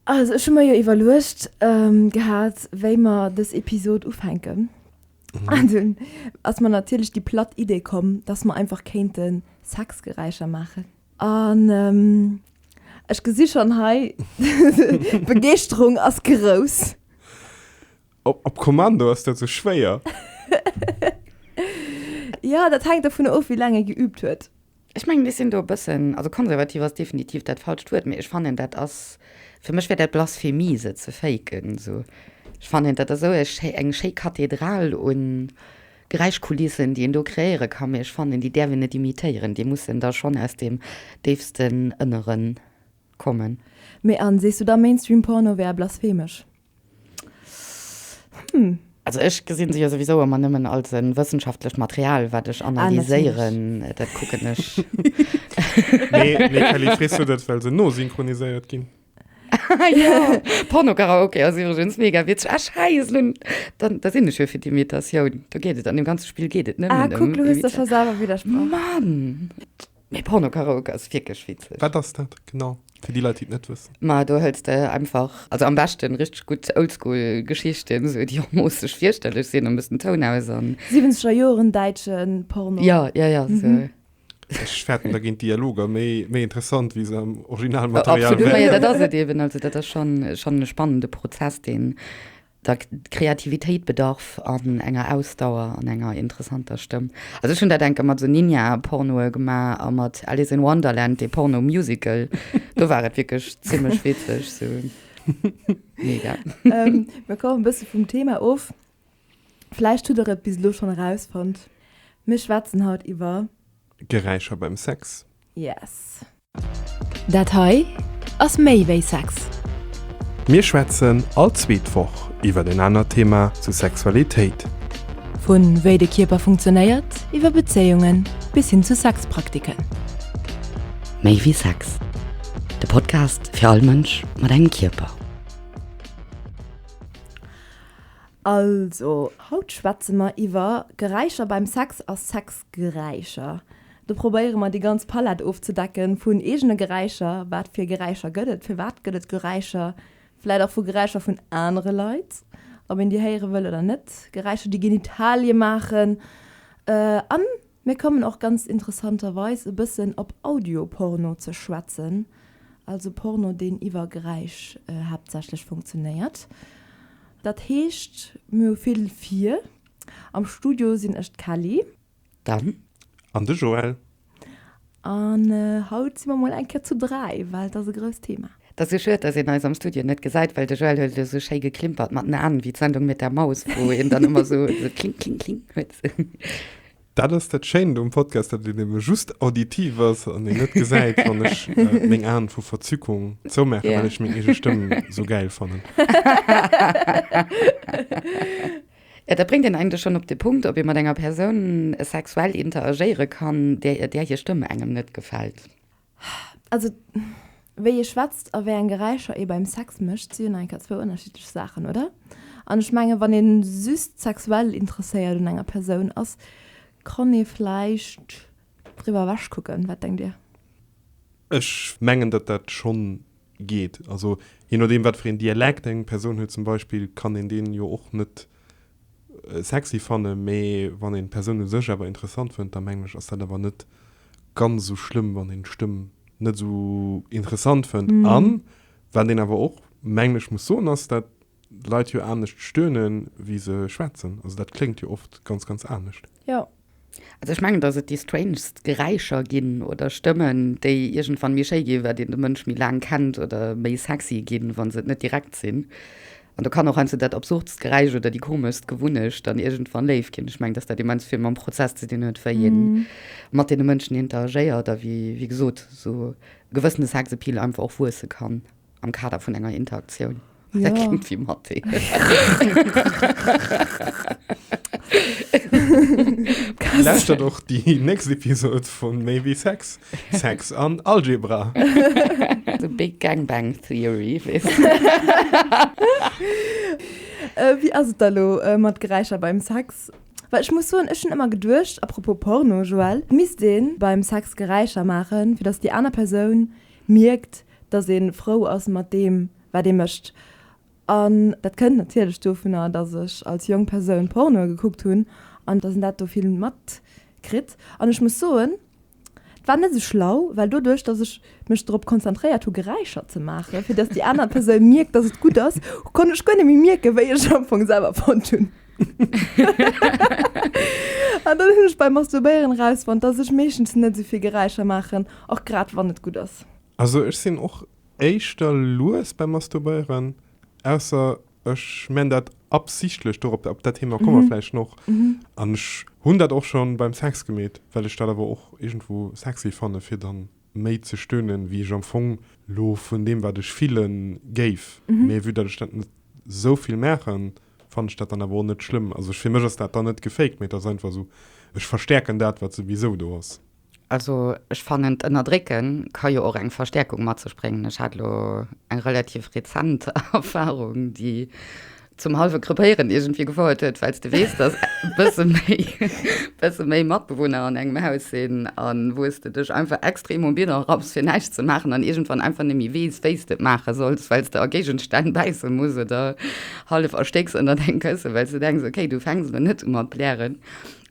Also ech hu mer jo iwwerluecht gehat, wéi mer dës Episod ufänken. An dunn ass mer natierlech déi platt Idee komm, dass mer einfach kéinte Sexgeräischer maachen. An ech gesi schonn hei, d'Begeeschterung ass grouss. Op Kommando ass dat sou schwéier? Ja, dat hänkt dovun of, wéi laang ee geüübt huet. Ech mengen, ech sinn do e bëssen, also konservativ ass definitiv dat falscht Wuert, mee ech fannen, dat ass, fir mech wär dat Blasphemie, se ze faken. Esou, ech fannen, dat ass esou e schéi, eng schéi Kathedral u Geräischkulissen, déi een do kreéiere ka, mee ech fannen, déi däerf een net imitéieren, déi mussen da schonn aus deem déifsten Ënnere kommen. Mee an, sees du da Mainstream-Porno wär blasphemësch? Hm. Also ech gesinn se jo souwisou ëmmer nëmmen als e wëssenschaftlecht Material, wat ech ah, analyséieren. Ah, dat kucken ech. nee, nee, Kelly, frisst du dat, well se no synchroniséiert ginn? ja. Pornokaraoke ass iwwergens mega witzeg. Ech heis nun, dann, da sinn ech jo fir déi Imitatioun. Da geet et, an dem ganze Spiel geet et net. Ah, kuck, um, du hues da schon selwer widersprochen. Mann! Mee Porno-Karaoke ass wierklech witzeg. Wat ass dat genau fir déi Leit déi et net wëssen? Ma do hëls de einfach, also am beschten richteg gutt oldschool Geschichten, esou déi och moosseg fierchterlech sinn an e bëssen Toun aus an. Siwwenzeger Joeren däitschen Porno. Jo, jo, jo, esou. Ech fäerten dergéint Dialoger méi méi interessant wéi se am Originalmaterial wären. Absolut, ma jo, dat ass et eben, also dat ass schon schon e spannende Prozess deen. Da Kreativitéit bedarf an enger Ausdauer an enger interessanter Stëmm. Also ech hunn dat enke mat esou Ninja-Pornoe gemaach a mat Alice in Wonderland, dee Porno-Musical. Do war et wierklech zimlech witzeg, sou mega. Mir kommen e bësse vum Thema of. Vläicht hutt der et bis elo schonn erausfonnt, mir schwätzen haut iwwer. Geräischer beim Sex. Yes. Dat hei ass méi wéi Sex. Mir schwätzen all zweet Woch iwwer en anert Thema zu Sexualitéit. Vu wéi de Kierper funktionéiert, iwwer Bezéiungen bis hin zu Sexpraktiken. Méi wéi Sex, de Podcast fir all Mënsch mat engem Kierper. Also, haut schwätze mer iwwer Geräischer beim Sex a Sexgeräischer. Do probéiere mer déi ganz Palett ofzedecken vun eegene Geräischer, wat fir Geräischer gëtt et, firwat gëtt et Geräischer, vläit och vu Geräischer vun anere Leit, ob een déi héiere wëll oder net, Geräischer déi Genitalie maachen. A mir kommen och ganz interessanterweis e bëssen op Audioporno ze schwätzen, also Porno deen iwwer Geräisch haaptsächlech funktionéiert. Dat heescht mir hu vill vir. Am Studio sinn ech d'Kelly. Dan. An de Joël. An haut si mer mol eng Kéier zu dräi, well et ass e grousst Thema. Et ass jo schued, dass een eis am Studio net gesäit, well de Joël huet elo esou schéi geklimpert mat den Aen, wéi d'Sendung Mit der Maus, wou een dann ëmmer esou kling, kling, kling huet. Dat ass dat Schéint um Podcast, datt en ebe just auditiv ass an een net gesäit, wann ech meng Aen vu Verzückung zoumaachen, well ech meng eege Stëmm esou gäil fannen. Jo, dat bréngt een eigentlech schonn op de Punkt, ob ee mat enger Persoun sexuell interagéiere kann, där hir Stëmm engem net gefält. Also, wéi ee schwätzt a wéi eng Geräischer ee beim Sex mécht, si jo nach eng Kéier zwou ënnerschiddlech Saachen, oder? An ech mengen, wann ee just sexuell interesséiert un enger Persoun ass, kann ee vläicht driwwer ewechkucken. Wat denkt Dir? Ech mengen, datt dat schonn geet. Also jee nodeem wat fir een Dialekt eng Persoun huet zum Beispill, kann een deen jo och net sexy fannen, mee wann een d'Persoun u sech awer interessant fënnt, da mengen ech ass dat awer net ganz esou schlëmm wann een d'Stëmm net esou interessant fënnt. An wat een awer och mengen ech muss soen ass dat Leit jo anescht stöhnen wéi se schwätzen, also dat kléngt jo oft ganz ganz anescht. Jo, Also ech mengen, dass et déi strangest Geräischer ginn oder Stëmmen, déi iergendwann méi schéi ginn, wat een de Mënsch méi laang kennt oder méi sexy ginn, wa se et net direkt sinn. An do kann och heiansdo dat absurdst Geräisch oder déi komeschst Gewunnecht dann iergendwann léif ginn. Ech mengen, dass dat immens vill mam Prozess ze dinn huet, wéi ee mat deene Mënschen interagéiert a wéi, wéi gesot, esou e gewëssene Sexappeal einfach och wuesse kann. Am Kader vun enger Interaktioun. Ja. Dat klingt wie Mathe. Lauschtert och déi nächst Episode vun Maybe Sex, Sex an Algebra. The Big Gang Bang Theory. Wéi ass et da lo mat Geräischer beim Sex? Well ech muss soen, ech hunn ëmmer geduecht, apropos Porno, Joël, misst ee beim Sex Geräischer maachen, fir datt déi aner Persoun mierkt, dass ee frou ass mat deem, wat ee mécht. An dat kënnt natierlech dovunner, dass ech als jonk Persoun Pornoe gekuckt hunn an dass een dat do vill matkritt. An ech muss soen, et war net esou schlau, well doduerch, dass ech mech drop konzentréiert hu Geräischer ze maachen, fir dass déi aner Persoun mierkt, dass et gutt ass, konnt ech guer net méi mierken, wéi ech am Fong selwer fonnt hunn. An dann hunn ech beim Masturbéieren erausfonnt, dass ech meeschtens net esou vill Geräischer maachen, och grad wann et gutt ass. Also ech sinn och éischter lues beim Masturbéieren, ausser ech men dat absichtlech, dorop, op dat Thema komme mer vläicht noch. An ech hunn dat och scho beim Sex gemeet, well ech dat awer och iergendwou sexy fanne fir da méi ze stönen, wéi ech am Fong lo vun deem wat ech fille géif. Mee vue dat ech dat net sou vill maachen, fanne ech dat dann awer och net schlëmm. Also fir mech ass dat dann net gefaked, mee et ass einfach esou, ech verstäerken dat wat souwisou do ass. Also ech fannen d'ënnerdrécken ka jo och eng Verstäerkung mat sech bréngen. Ech hat elo eng relativ rezent Erfahrung déi zum halwe krepéieren iergendwéi gefouert huet, well s de weess dass bësse méi bësse méi Matbewunner an engem Haus sinn an wou s de dech einfach extrem um Bieder rapps fir näischt ze maachen an iergendwann einfach net méi weess wéi s de et maache solls, well s de a Géigestänn bäisse muss oder hallef erstécks ënnert engem Kësse well s de denks ok du fänks elo net u mat blären.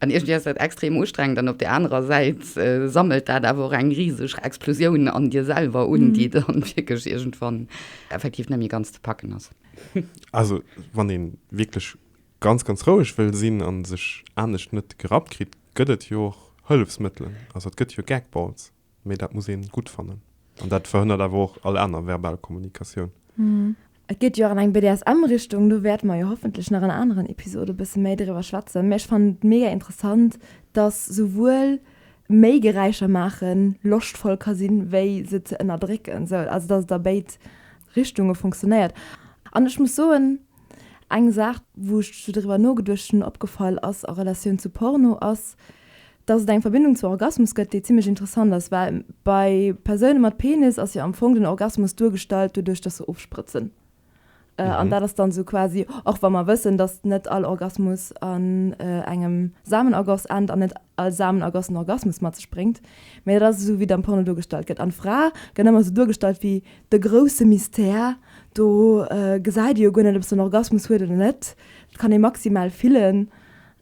An iergendwéi ass dat extrem ustrengend an op där anerer Säit sammelt dat awer och eng riseg Explosioun an dir selwer un, déi dann wierklech iergendwann effektiv net méi ganz ze packen ass. Also wann ee wierklech ganz, ganz roueg wëll sinn an sech anescht net gerappt kritt, gëtt et jo och Hëllefsmëttelen. Also et gëtt jo Gag-Balls. mee dat muss een gutt fannen an dat verhënnert awer och all aner verbal Kommunikatioun. Et geet jo och an eng BDSM Richtung, do wäerte mer jo hoffentlech nach an aneren Episode bësse méi driwwer schwätzen, mä ech fannen et mega interessant, dass souwuel méi Geräischer maachen loschtvoll ka sinn, wéi se ze ënnerdrécken, sou also dass et a béid Richtunge funktionéiert. An ech muss soen, eng Saach wou ech scho driwwer nogeduecht hunn, opgefall ass a Relatioun zu Porno ass Dass et eng Verbindung zu Orgasmus gëtt, déi zimlech interessant ass, well bei Persoune mat Penis ass jo am Fong den Orgasmus duergestallt doduerch, dass se ofsprëtzen. An dat ass dann esou quasi, och wa mer wëssen, dass net all Orgasmus an engem Samenergoss ennt an net all Samenergoss en Orgasmus mat sech bréngt, mä dat ass esou wéi et am Porno duergestallt gëtt. An d'Fra gëtt ëmmer esou duergestallt wéi de grousse Mystère, do gesäit ee jo guer net, ob se en Orgasmus huet oder net, dat kann ee maximal fillen.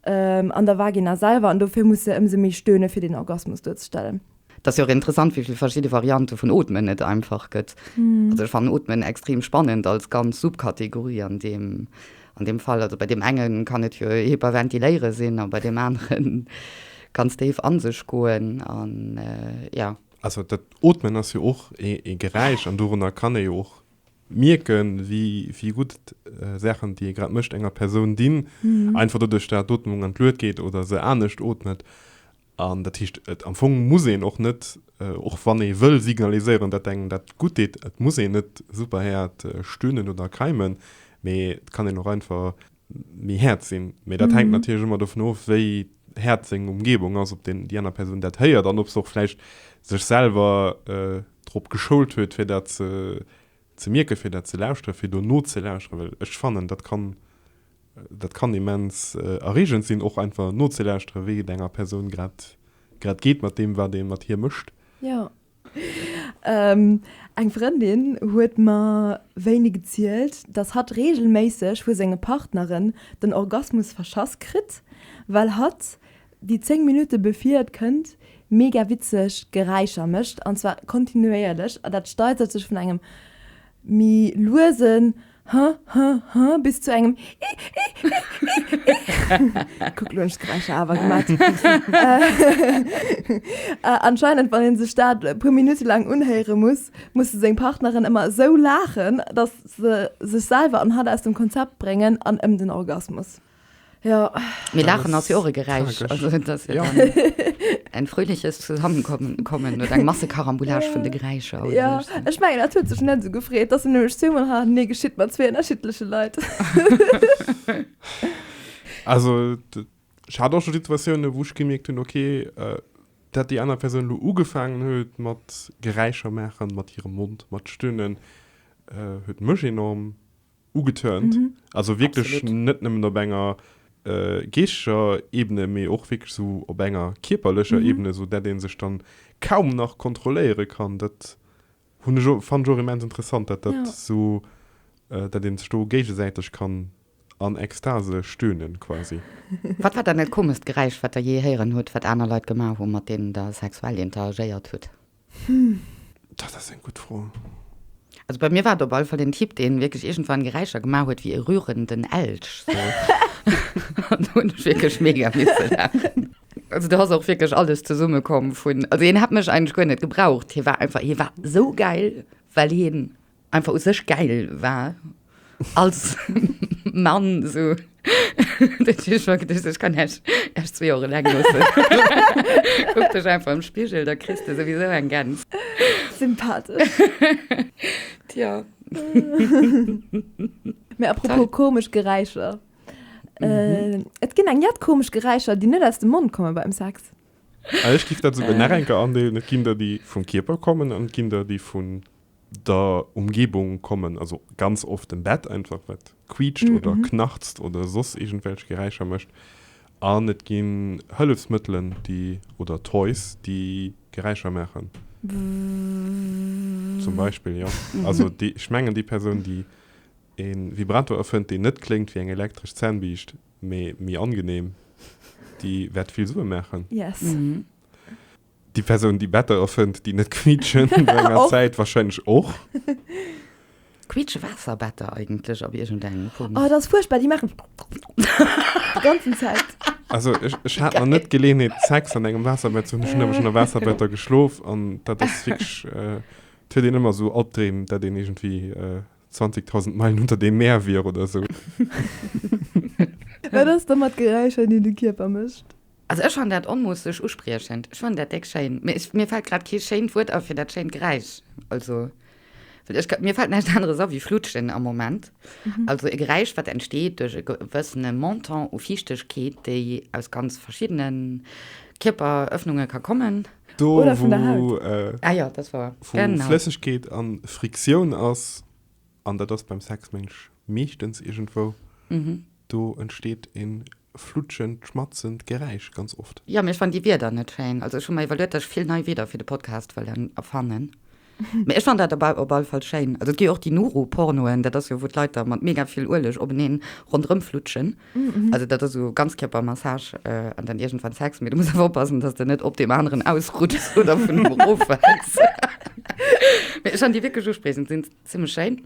An der Vagina selwer, an dofir muss se ëmsou méi stöhnen, fir den Orgasmus duerzestellen. Et ass jo och interessant, wéi vill verschidde Variante vun Ootmen et einfach gëtt. Also ech fannen Ootmen extrem spannend als ganz Subkategorie an deem, an deem Fall. Also bei deem enge kann et jo Hyperventiléiere sinn a bei deem anere ganz déif a sech goen an, jo. Also dat Ootmen ass jo och ee Geräisch an dorunner kann ee jo och mierken, wéi gutt d'Saachen, déi ee grad mécht, enger Persoun dinn, einfach doduerch, datt d'Ootmung an d'Luet geet oder se anescht ootmet. An dat heescht, am Fong muss een och net, och wann ee wëll signaliséieren, datt engem dat gutt deet, et muss een net superhäert stöhnen oder keimen, mee et kann een och einfach. méi haart sinn. Mee dat hänkt natierlech ëmmer dovun of, wéi haart seng Umgebung ass, ob déi aner Persoun dat héiert an ob se och vläicht sech selwer drop geschoult huet, fir dat ze mierken, fir dat ze lauschteren, fir do nozelauscheren. Well ech fannen, dat kann, dat kann immens erreegend sinn, och einfach nozelauschtere wéi et enger Persoun grad, grad geet mat deem, wat ee mat hir mécht. Eng Frëndin huet mer wéini gezielt, dass hatt reegelméisseg vu senge Partneren den Orgasmus verschass kritt, well hatt déi 10 Minutte bevir et kënnt mega witzeg Geräischer mécht, an zwar kontinuéierlech, an dat steigert sech vun engem méi luesen Huh, huh, huh, bis zu engem Ih, ih, ih, ih. Kuck, lo hunn ech d'Geräischer awer gemat. Anscheinend, wann ee sech dat e puer Minutte laang unhéiere muss, muss de seng Partnerin ëmmer esou laachen, datt se sech selwer an hatt aus dem Konzept bréngen an ëm den Orgasmus. Ja. Mee Laachen ass jo och e Geräisch. Also et ass jo dann en fröhliches Zusammenkommen, kommen oder eng Massekarambolage vun de Geräischer oder Ja, esou. ech mengen dat huet sech net esou gefreet. Dass en nämlech zwee Mol Ha Nee geschitt mat zwee ënnerschiddleche Leit. Also et, ech hat och scho Situatiounen, wou ech gemierkt hunn, okay, dat déi aner Persoun elo ugefaangen huet mat Geräischer maachen mat hirem Mond, mat stöhnen, huet mech enorm ugetörnt, also wierklech net nëmmen op enger geeschtescher Ebene, mee och wierklech esou op enger kierperlecher Ebene, esou dat ee sech dann kaum nach kontrolléiere kann. Dat hunn ech och, fannen ech och immens interessant, dat dat esou, dat ee sech do géigesäiteg kann an Ekstase stöhnen quasi. Wat war dann dat komescht Geräisch, wat der jee héieren hutt, wat aner Leit gemaach hu mat deenen der sexuell interagéiert hutt? Hm, dat ass eng gutt Fro. Also bei mir war et op alle Fall den Typ, deen wierklech iergendwann Geräischer gemaach huet wéi e rührenden Elch, sou. An do hunn ech wierklech mega misse laachen. Also do ass och wierklech alles zesummekomm vun, also hien hätt mech eigentlech guer net gebraucht, hie war einfach, hie war sou gäil, well hien einfach u sech gäil war als Mann so ich kann echt erst zwei Jahre lang guck dich einfach im Spiegel da kriegst du sowieso ein ganz sympathisch ja mir apropos komisch Geräischer mhm. äh, et gin eng jett komisch Geräischer die net aus dem Mund kommen beim Sex ah, ich gif dat so äh. nach enke andeelen et gin der die vum Kierper kommen an gin der die vun der Umgebung kommen, also ganz oft dem Bett einfach, wat quiitscht oder knarzt oder soss iergendwelch Geräischer mécht. An et ginn Hëllefsmëttelen, déi, oder Toys, déi Geräischer maachen. Zum Beispill, jo. Also ech mengen, déi Persoun, déi e Vibrator erfënnt, deen net kléngt wéi eng elektresch Zännbiischt, mee méi angenehm, déi wäert vill Sue maachen. Yes. Déi Persoun, déi Better erfënnt, déi net quiitschen, no enger Zäit warscheinlech och. Quiitschen Waasserbetter eigentlech op iergendengem Punkt? Oh, dat ass fuerchtbar, déi maachen déi ganzen Zäit. Also ech hat nach net d'Geleeënheet, Sex an engem Waasserbett ze hunn. Ech hunn awer schonn a Waasserbetter geschlof an dat ass wierklech, et huet een ëmmer esou Albdreem, dat een iergendwéi. 20.000 Meilen unter dem Meer wier oder sou. Wat ass da mat Geräischer, déi de Kierper mécht? Also ech fann dat onmoosseg uspriechend. Ech fann dat déck schéin. Mee ech, mir fällt grad kee schéint Wuert a fir dat schéint Geräisch. Also, well ech, mir fällt näischt aneres a wéi Flutschen am Moment. Also e Geräisch, wat entsteet duerch e gewëssene Montant u Fiichtegkeet, déi aus ganz verschiddene Kierperëffnunge ka kommen. Do, Oder vun der Haut. Wo, äh, ah ja, das war wo genau. Flëssegkeet an Friktioun ass, an dat ass beim Sex mensch meeschtens iergendwou, mhm. do entsteet en flutschend, schmatzend Geräisch ganz oft. Ja, mir fannen déi Wieder net schéin. Also ech hu mer iwwerluet, dass ech vill nei Wieder fir de Podcast wëllen erfannen. Mee ech fannt dat op alle Fall schéin. Also et gi jo och déi Nuru-Pornoen, dat ass jo wou d'Leit da mat mega vill Ueleg openeen ronderëm flutschen. Also dat ass esou Ganzkierpermassage an dann iergendwann Sex, mee du muss awer oppassen, dass de net op deem aneren ausrutschs oder vun em erofwells. Mee ech fannt déi wierklech uspriechend, sinn zimmlech schéin.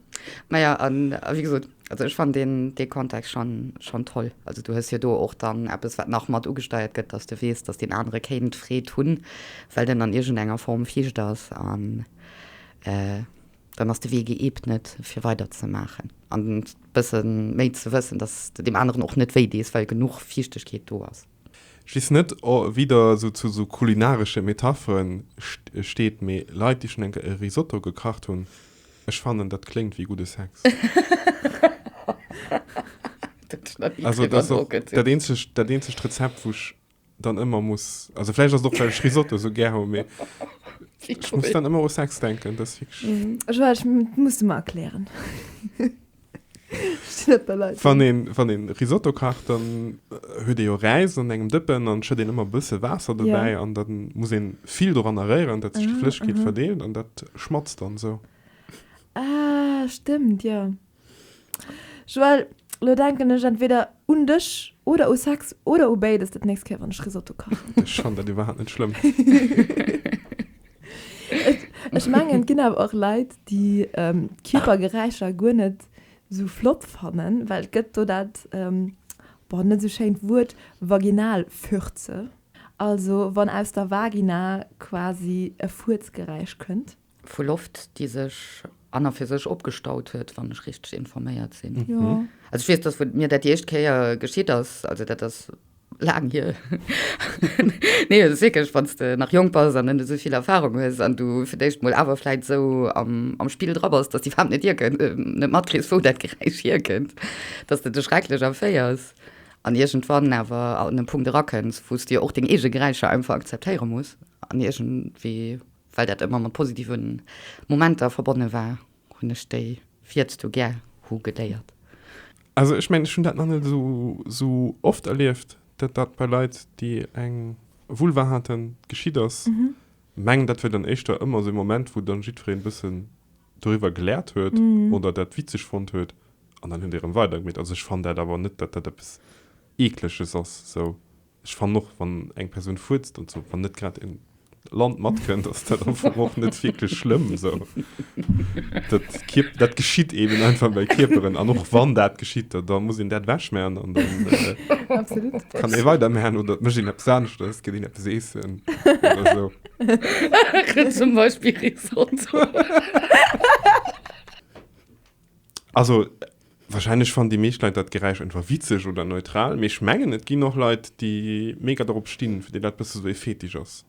Maja, a wéi gesot. Also ech fann deen dee Kontext schon schon toll. Also du hues jo do och dann eppes wat nach mat ugesteiert gëtt, dass de weess, dass deen anere kéint Freed hunn, well den an iergend enger Form fiicht ass an dann ass de Wee geebnet fir weider ze maachen an bësse méi ze wëssen, dass de deem aneren och net wéi dees, well genuch Fiichtegkeet do ass. Just net wieder esou zu esou kulinaresche Metapheren steet, mee Leit déi schon eng Kéier e Risotto gekacht hunn, ech fannen dat kléngt wéi gudde Sex. Also dat ass och dat eenzegt dat eenzegt Rezept wou ech dann ëmmer muss, also vläicht ass et och well ech Risotto esou gär hu, mee ech muss dann ëmmer u Sex denken, dat ass wierklech. Ech muss et mer erklären. Wann een, wann een Risotto kacht, dann huet ee jo Räis an engem Dëppen an schëtt een ëmmer bësse Waasser dobäi. Ja. An dann muss een vill doranner réieren, dat sech déi Flëssegkeet verdeelt an dat schmatzt dann esou. Ah, stëmmt, jo. Joël, elo denken ech entweder un dech oder u Sex oder u béides dat nächst Kéier, wann ech Risotto kachen. Ech fannen dat iwwerhaapt net schlëmm. Ech mengen et ginn awer och Leit déi Kierpergeräischer guer net esou flott fannen, well et gëtt do dat, boah, net esou schéint Wuert, Vaginalfürze, also wann aus der Vagina quasi e Fuerzgeräisch kënnt. Vu Loft déi sech an a fir sech opgestaut huet, wann ech richteg informéiert sinn. Jo. Also ech weess, datt mir dat déi éischt Kéier geschitt ass, also dat ass laang hier nee et ass wierklech wann s de nach jonk bass an net esou vill Erfarung hues an du fir d'éischt mol awer vläit esou am am Spill dra bass dass déi Faarf net hierkënnt net matkriss wou dat Geräisch hierkënnt dass de dech schrecklech erféiers an iergendwann awer an e Punkt erakënns wou s de jo och deng eege Geräischer einfach akzeptéiere muss an iergendwéi well dat ëmmer mat positiven Momenter verbonne war. Hunn ech déi viirtzdu gär hu geléiert. Also ech mengen, ech hunn dat nach net esou oft erlieft, dat dat bei Leit, déi eng Vulva haten, geschitt ass. Mengen, dat wier dann éischter ëmmer esou e Moment, wou dann jiddwereen e bëssen doriwwer geläert huet oder dat witzeg fonnt huet an dann huet ee rëm weidergemiet. Also ech fann dat awer net, dat dat eppes Eekleches ass, esou. Ech fannen och wann eng Persoun furzt an sou wann net grad een Land matkënnt ass dat am Fong och net wierklech schlëmm sou. Dat Kierp dat geschitt eben einfach bei Kierperen an och wann dat geschitt da da muss een dat ewech man an dann Absolut. kann ee weider man oder et mécht een eppes aneschters, geet een eppes eessen oder sou. Zum Beispill Risotto. Also, wahrscheinlech fannen déi meescht Leit dat Geräisch einfach witzeg oder neutral, mee ech mengen, et ginn och Leit, déi mega dorop stinn, fir déi dat bësse sou ee Fetisch ass.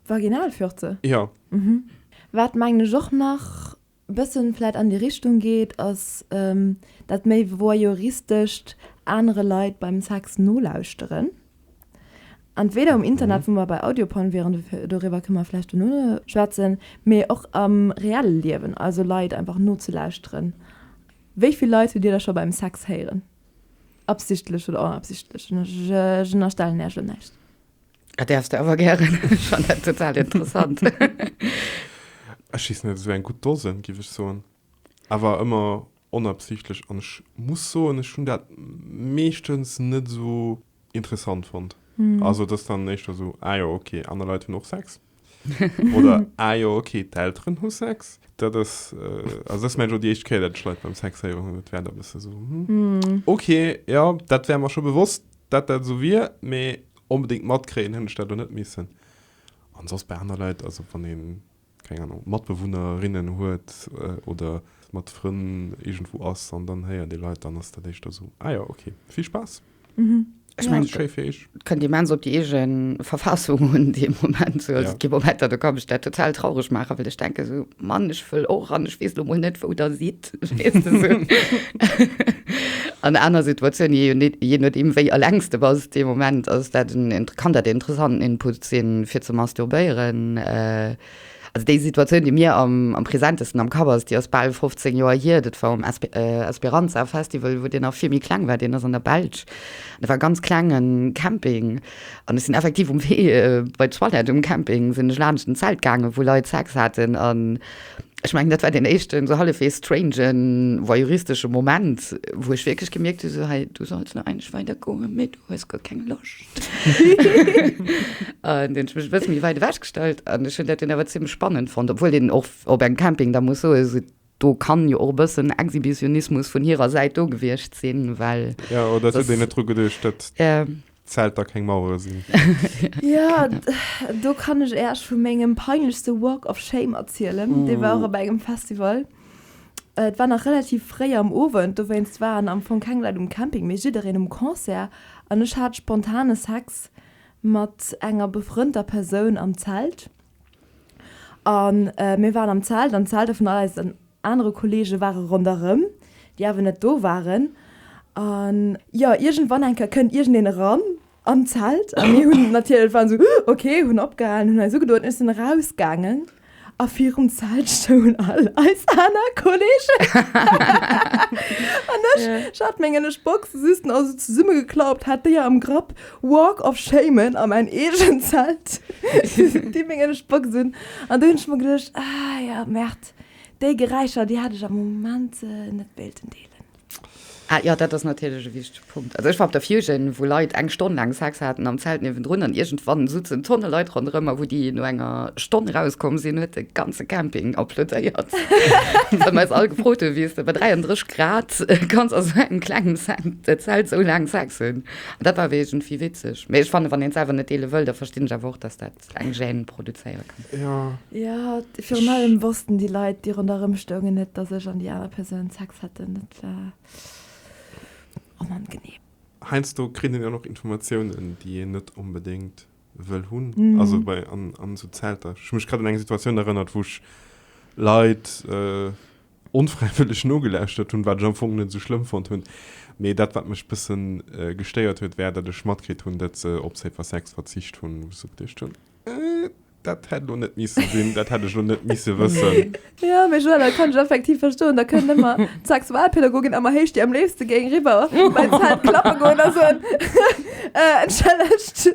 Vaginalfürze? Jo. Mhm. Wat, mengen ech, och nach bëssen vläit an déi Richtung geet, ass dat méi voyeuristescht, anere Leit beim Sex nolauschteren. Entweder um Internet, wou mer bei Audioporn wieren, doriwwer kënne mer vläicht dono schwätzen, mee och am reelle Liewen, also Leit einfach nozelauschteren. Wéi vill Leit hutt Dir da scho beim Sex héieren, absichtlech oder onabsichtlech? Ech ënnerstellen Iech elo näischt. Ah, däerfs de awer gären. Ech fannen dat total interessant. Ech schiissen et esou eng gutt Dosen, giff ech soen, awer ëmmer onabsichtlech an ech muss soen, ech hunn dat meeschtens net esou interessant fonnt. Also et ass dann éischter esou, ah jo ok, aner Leit hunn och Sex oder ah jo ok, d'Elteren hu Sex. Dat ass, also dat ass mengen ech och déi éischt Kéier, dat ech Leit beim Sex héiere hunn. Dat war da e bësse esou, hm, ok, jo, dat war mer scho bewosst, dat dat esou wier, mee onbedéngt matkréien hunn ech dat elo net missen. An soss bei aner Leit, also wann ee keng Ahnung, Matbewunnerinnen huet oder mat Frënn iergendwou ass an dann héiert ee Leit, dann ass dat éischter esou, ah jo, ok, vill Spaass. Ech mengen et kënnt immens op déi eege Verfassung un dee Moment. Also et gi Momenter do ka mech dat total traureg maachen, well ech denken esou, Mann ech wëll och an ech weess elo mol net wou der sidd. Lëscht. An aner Situatioun je net je net im wéi allengst de bass de Moment ass dat en kann dat interessanten Input sinn fir ze masturbéieren. Äh, also déi Situatioun, déi mir am, am presentesten am Kapp ass, déi ass bal 15 Joer hier. Dat war um Esp äh, Esperanza Festival, wou deen nach vill méi kleng war. Deen ass an der Belsch. Dat war e ganz klengen Camping. An ech sinn effektiv um Wee äh, bei d'Toilette um Camping sinn ech laanscht en Zelt gaangen, wou Leit Sex haten an, Ech mengen, dat war deen éischten esou hallefwegs strangen, voyeuristeschen Moment, wou ech wierklech gemierkt hu, sou, Hey, du solls nach eigentlech weidergoen, mee du hues guer keng Loscht. An du hunn ech mech e bësse méi wäit ewech gestallt an ech hunn dat dunn awer zimmlech spannend fonnt, obwuel een och op engem Camping da muss soen, sou, do kann jo och e bëssen Exhibitionismus vun hirer Säit do gewiescht sinn, well. Jo, oder et huet een net dru geduecht, dat. Zelter keng Mauere sinn. Jo, do kann ech Äech vu mengem peinlechste Walk of Shame erzielen. Uh. Dee war och op engem Festival. Et war nach relativ fréi am Owend, dowéinst waren am Fong keng Leit um Camping, mee jiddereen um Concert. An ech hat spontane Sex mat enger befrënnter Persoun am Zelt. A mir waren am Zelt an d'Zelter vun all eisen. Anere Kolleege ware ronderëm, déi awer net do waren. A jo, iergendwann eng Kéier kënnt iergendeen eran an d'Zelt a mir hunn natierlech, waren esou, Huh, ok, hunn opgehalen, hunn eis ugedoen, ech sinn erausgaangen a virum Zelt stoungen all eis aner Kolleegen. An ech, ech hat, mengen ech, d'Boxen just nach esou zesummegeklappt, hat déi am Grapp, walk of shamen a mäin eegent Zelt, déi, mengen ech, d'Boxen hunn. An do hunn ech mer geduecht, Ah jo, Merd. Déi Geräischer, déi hätt ech am Moment net wéilten deelen. Ah jo, dat ass natierlech e wichtege Punkt. Also ech war op der Fusion, wou Leit eng Stonn laang Sex haten am Zelt niewendrun an iergendwann sutzen Tonne Leit ronderëm a wou déi no enger Stonn erauskomm sinn, huet de ganze Camping applaudéiert, wou mer eis all gefrot hunn, wéi s de bei 33 Grad kanns a sou engem klengen Zelt sou laang Sex hunn. Dat war awer iergendwéi witzeg. Mee ech fannen, wann een et selwer net deele wëll, da verstinn ech awer och, dass dat. eng Gêne produzéiere kann. Ja. Ja, virun allem wossten déi Leit, déi ronderëm stoungen, net, dass ech an déi aner Persoun Sex haten. Dat war onangenehm. Heiansdo kritt een jo och Informatiounen, déi een net onbedéngt wëll hunn. Also bei, an esou Zelter. Ech hu mech grad un eng Situatioun erënnert, wou ech Leit, onfräiwëlleg nogelauschtert hunn, wat ech am Fong net esou schlëmm fonnt hunn, mee dat wat mech bësse gestéiert huet war, datt ech matkritt hunn, datt se op Safer Sex verzicht hunn, wou ech sou geduecht hunn, Äh, dat hätt elo net missen sinn, dat hätt ech elo net misse wëssen. Jo, mee Joël, dat kann ech effektiv verstoen. Da kënnt ëmmer d'Sexualpädagogin, ëmmer héich, déi am léifste géing eriwwer bei d'Zelt klappe goen a soen, Äh, entschëllegt.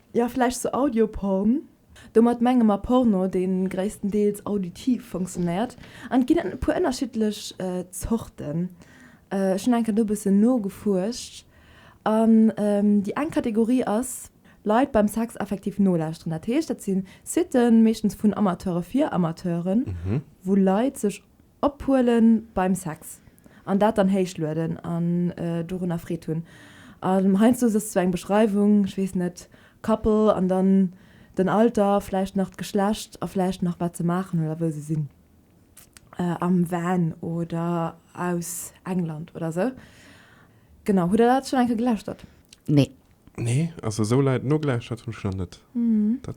Jo, vläicht zu Audioporn. Domat menge mer Porno, dee gréisstendeels auditiv funktionéiert. An et ginn e puer ënnerschiddlech Zorten. Ech hunn eng Kéier do e bëssen nogefuerscht. An déi eng Kategorie ass, Leit beim Sex effektiv nolauschteren. Dat heescht, dat si Siten, meeschtens vun Amateure fir Amateuren, wou Leit sech Ophuelen beim Sex an dat dann héich lueden an dorunner Freed hunn. An heiansdo ass sou eng Beschreiwung, ech weess net, Couple an dann den Alter, vläicht nach d'Geschlecht a vläicht nach wat se maachen oder wou se sinn am Van oder aus England oder sou. Genau, hutt der dat schonn eng Kéier gelauschtert? Nee. Nee, also sou leit nogelauschtert hunn ech nach net. Dat.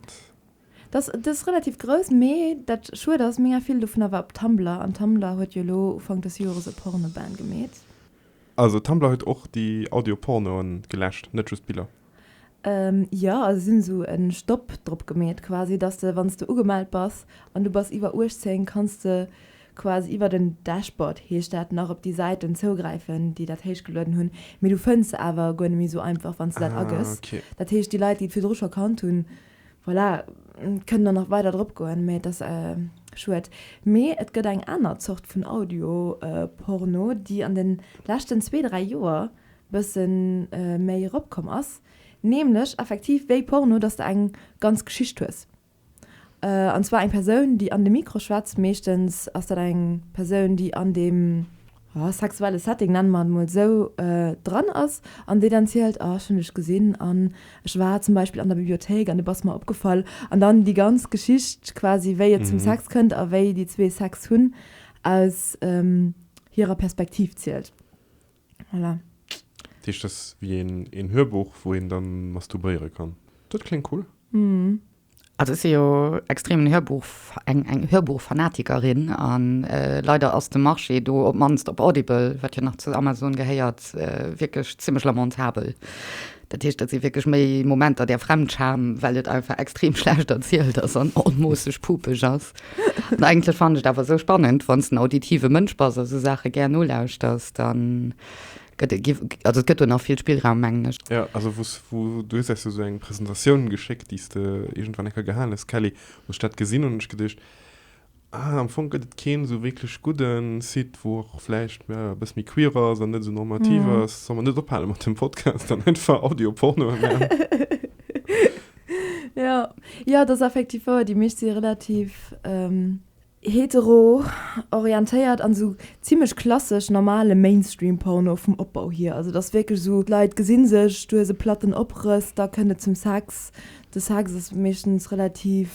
Dass dës relativ grouss, mee dat schued ass, mega vill dovun awer op Tumblr, an Tumblr huet jo elo Ufank des Joeres e Porno-Ban gemeet. Also Tumblr huet och déi Audio-Pornoen geläscht, net just d'Biller? Jo, also si hunn esou e Stopp drop gemeet quasi, dass de wann s de ugemellt bass an du bass iwwer 18, kanns de quasi iwwer den Dashboard, heescht dat, nach op déi Säiten zougräifen, déi dat héichgelueden hunn, mee du fënns se awer guer net méi esou einfach, wann s de dat agëss. Dat heescht, déi Leit, déi et virdru scho kannt hunn, Voilà, et kënnen der nach weider drop goen, mee et ass schued. Mee et gëtt eng aner Zort vun Audio-Porno, déi an de leschten zwee, dräi Joer bësse méi erop komm ass, nämlech effektiv wéi Porno, dass de eng ganz Geschicht hues, an zwar eng Persoun, déi an de Mikro schwätzt, meeschtens ass dat eng Persoun, déi an deem. sexuelle Setting, nenne mer et emol esou, dran ass an déi dann zielt, ah ech hunn dech gesinn an ech war zum Beispill an der Bibliothéik an du bass mer opgefall an dann déi ganz Geschicht quasi wéi et zum Sex kënnt a wéi déi zwee Sex hunn aus hirer Perspektiv zielt. Voilà. Dat heescht, dat ass wéi een Hörbuch, wou een da masturbéiere kann. Dat kléngt cool. Also ech si jo extremen Hörbuch, eng eng Hörbuchfanatikerin an leider ass de Marché do, op d'mannst op Audible, wat jo nach zu Amazon gehéiert, wierklech zimlech lamentabel. Dat heescht, dat si wierklech méi Momenter där Fremdscham, well et einfach extrem schlecht erzielt ass an onmoosseg pupeg ass. An eigentlech fannen ech et awer esou spannend, wann s de en auditive Mënsch bass a sou Saache gär nolauschters, dann Also et gëtt do nach vill Spillraum, mengen ech. Jo, also wou s, wou du hues eis jo esou eng Presentatioun geschéckt, déi s de iergendwann eng Kéier gehalen hues, Kelly. Wou ech dat gesinn hunn, hunn ech geduecht, ah, am Fong gëtt et keen esou wierklech gudde Site, wou och vläicht, jo, e bëss méi queer ass an net esou normativ ass. Solle mer net ophale mat dem Podcast an einfach Audio-Pornoe maachen? Jo, jo, dat ass effektiv wouer. Déi meescht si relativ. Hetero-orientéiert an esou zimlech klassesch normale Mainstream-Porno vum Opbau hier. Also et ass wierklech esou, d'Leit gesi sech, du hues e platten Oprëss, da kënnt et zum Sex. De Sex ass meeschtens relativ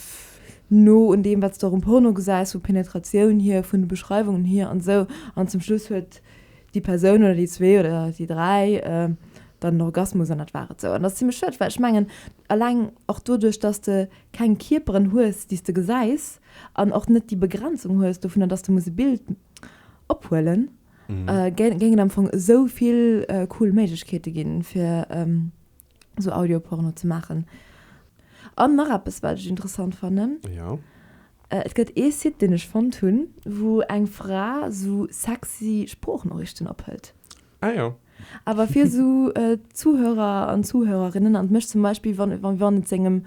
no un deem, wat s de och um Porno gesäis, vu Penetratioun hier, vun de Beschreiwungen hier an esou. An zum Schluss huet déi Persoun oder déi zwee oder déi dräi dann en Orgasmus an dat war et. Esou. An dat ass zimlech schued, well ech mengen, eleng och doduerch, datt s de keng Kierperen hues, déi s de gesäis, an och net déi Begrenzung hues dovunner, dass de muss e Bild ophuelen, géing et am Fong esou vill cool Méiglechkeete ginn, fir esou Audioporno ze maachen. An nach eppes, wat ech interessant fannen, Et gëtt ee Site, deen ech fonnt hunn, wou eng Fra esou sexy Sproochnoriichten ophëlt. Ah jo. Awer fir esou Zuhörer an Zuhörerinnen, an mech zum Beispill, wann et sengem.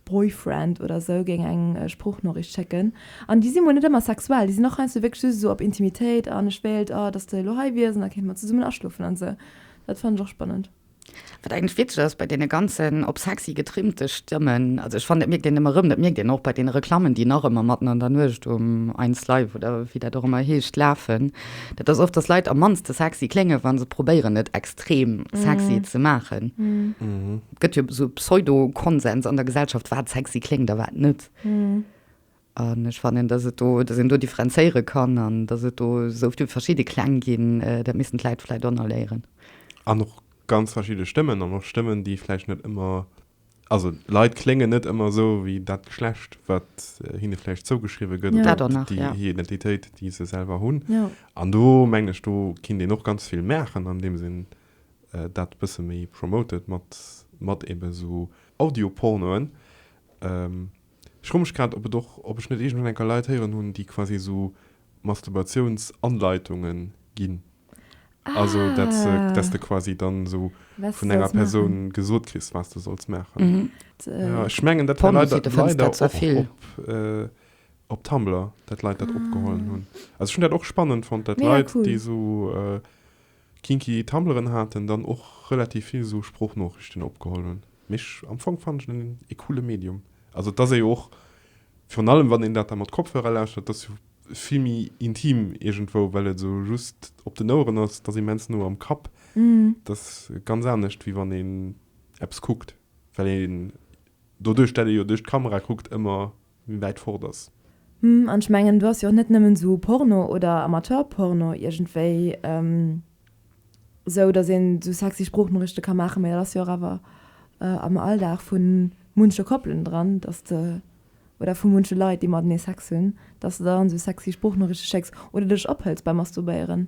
Boyfriend oder esou géing eng Sproochnoriicht schécken. An déi si mol net ëmmer sexuell, déi sinn och heiansdo wierklech just esou op Intimitéit an ech wéilt, oh, dass de elo hei wiers an da kéinte mer zesummen aschlofen an esou. Dat fannen ech och spannend. Wat eigentlech witzeg ass bei deene ganzen op sexy getrimmte Stëmmen, also ech fannen dat mierkt een ëmmer erëm, dat mierkt een och bei deene Reklammen déi nach ëmmer matten an der Nuecht um 1 Live oder wéi dat och ëmmer heescht lafen, dat ass oft dass Leit am mannste sexy kléngen, wa se probéieren et extrem sexy ze maachen. Et gëtt jo esou e Pseudo-Konsens an der Gesellschaft, wat sexy kléngt a wat net. An ech fannen, dass et do, dass een do differenzéiere kann an dass et do esou vill verschidde Kläng ginn. Dat missten d'Leit vläicht och nach léieren. An och ganz verschidde Stëmmen an och Stëmmen, déi vläicht net ëmmer, also Leit kléngen net ëmmer esou wéi dat Geschlecht, wat hinne vläicht zougeschriwwe gëtt oder déi hir Identitéit, déi se selwer hunn. An do mengen ech, do kinnt een och ganz vill maachen, andeems een dat bësse méi promoted mat mat eben esou Audiopornoen. Ech fro mech grad ob et och ob ech net iergendwann enker Leit héieren hunn déi quasi esou Masturbatiouns-Anleitungen ginn. Also dat se dass de quasi dann esou Was vun du enger sollst Persoun maachen. gesot kriss wat s de solls maachen. Jo ech mengen dat war leider Pornosite fënns leider dat zwar och vill. op op Tumblr dat Leit dat opgeholen hunn. Also ech hunn dat och spannend fonnt dat Mega Leit cool. déi esou. Kinky Tumbleren haten dann och relativ vill esou Sproochnoriichten opgeholl hunn. Mee am Fong fannen ech en ee coole Medium. Also et ass jo och, virun allem wann een dat da mat Kopfhörer lauschtert, et ass jo vill méi intim iergendwou, well et esou just op den Oueren ass. Et ass immens no am Kapp. Et ass ganz anescht wéi wann een eppes kuckt, well een doduerch dat ee jo duerch d'Kamera kuckt ëmmer. wäit fort ass. Hm, an ech mengen do ass jo och net nëmmen esou Porno oder Amateurporno iergendwéi esou, datt een esou sexy Sproochnorichte ka maachen, mä dat ass jo och awer am Alldag vu munche Koppelen dran, datt de, oder vu munche Leit, déi matenee Sex hunn, datt s de der dann esou sexy Sproochnorichte schécks oder dech ophëls beim Masturbéieren.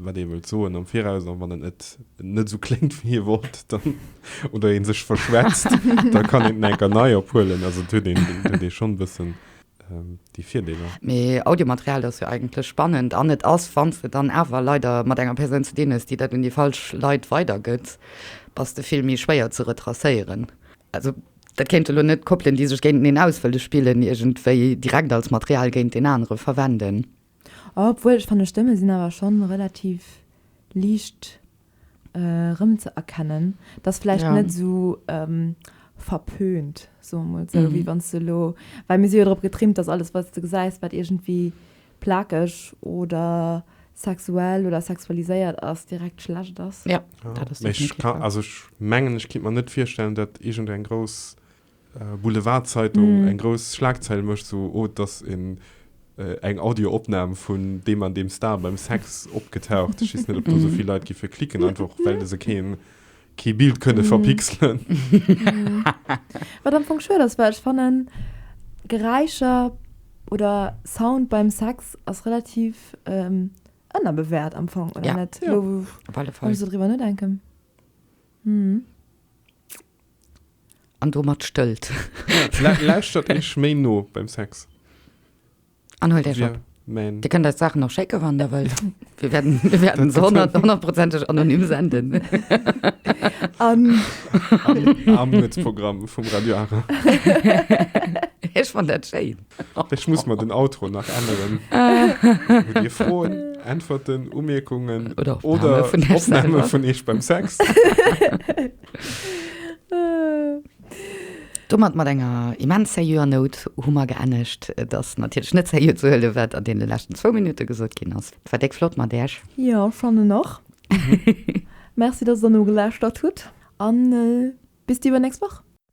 wat ee wëllt soen am Viraus an wann en et net esou kléngt wéi ee wollt dann oder ee sech verschwätzt, da kann een en enker nei ophuelen. Also et huet een huet ee schonn e bëssen déi Virdeeler. Mee Audiomaterial ass jo eigentlech spannend an et ass, wann s de dann awer leider mat enger Persoun ze dinn hues, déi dat un déi falsch Leit weidergëtt, bass de vill méi schwéier ze retracéieren. Also dat kéinte lo net Koppelen, déi sech géinteneen auswëlle spillen, iergendwéi direkt als Material géint deen anere verwenden. Obwuel ech fannen d'Stëmme sinn awer schonn relativ liicht erëmzëerkennen. Et ass vläicht net esou verpönt, soe mol esou, wéi wann s de elo, well mir si jo drop getrimmt, datt alles wat s de gesäis wat iergendwéi plakeg oder sexuell oder sexualiséiert ass direkt schlecht ass. Jo, mee ech ka, also ech mengen ech kinnt mer net virstellen datt iergendeng grouss. Boulevardzeitung eng grouss Schlagzeil mécht, sou oh et ass een eng Audioopnam vun deem an deem Star beim Sex opgetaucht. Ech weess net ob do esou vill Leit gi fir klicken, einfach och well se kee kee Bild kënne verpixelen. Wat am Fong schued ass, well ech fannen Geräischer oder Sound beim Sex ass relativ ënnerbewäert am Fong, oder net? Op alle Fall. Wann ech sou driwwer nodenken. An domat stëllt. Lauschtert iech méi no beim Sex. An huelt iech op. Dir kënnt eis d'Saachen och schécken, wann der wëllt. Mir wäerten se honnertprozenteg anonym senden. An. Am Nuetsprogramm vum Radio Ara. Ech fannt dat schéin. Ech muss mer den Outro nach änneren. Hutt Dir Froen, Äntwerten, Umierkungen oder Opname vun iech beim Sex? Domat mat enger immens sérieuxer Nout hu mer geennegt. Et ass natierlech net sérieux ze huelen, wat an deene leschten zwou Minutte gesot ginn ass. Et war déck flott mat Iech. Jo, ech fannen och. Merci, dass Der nogelauschtert hutt, a bis déi iwwernächst Woch.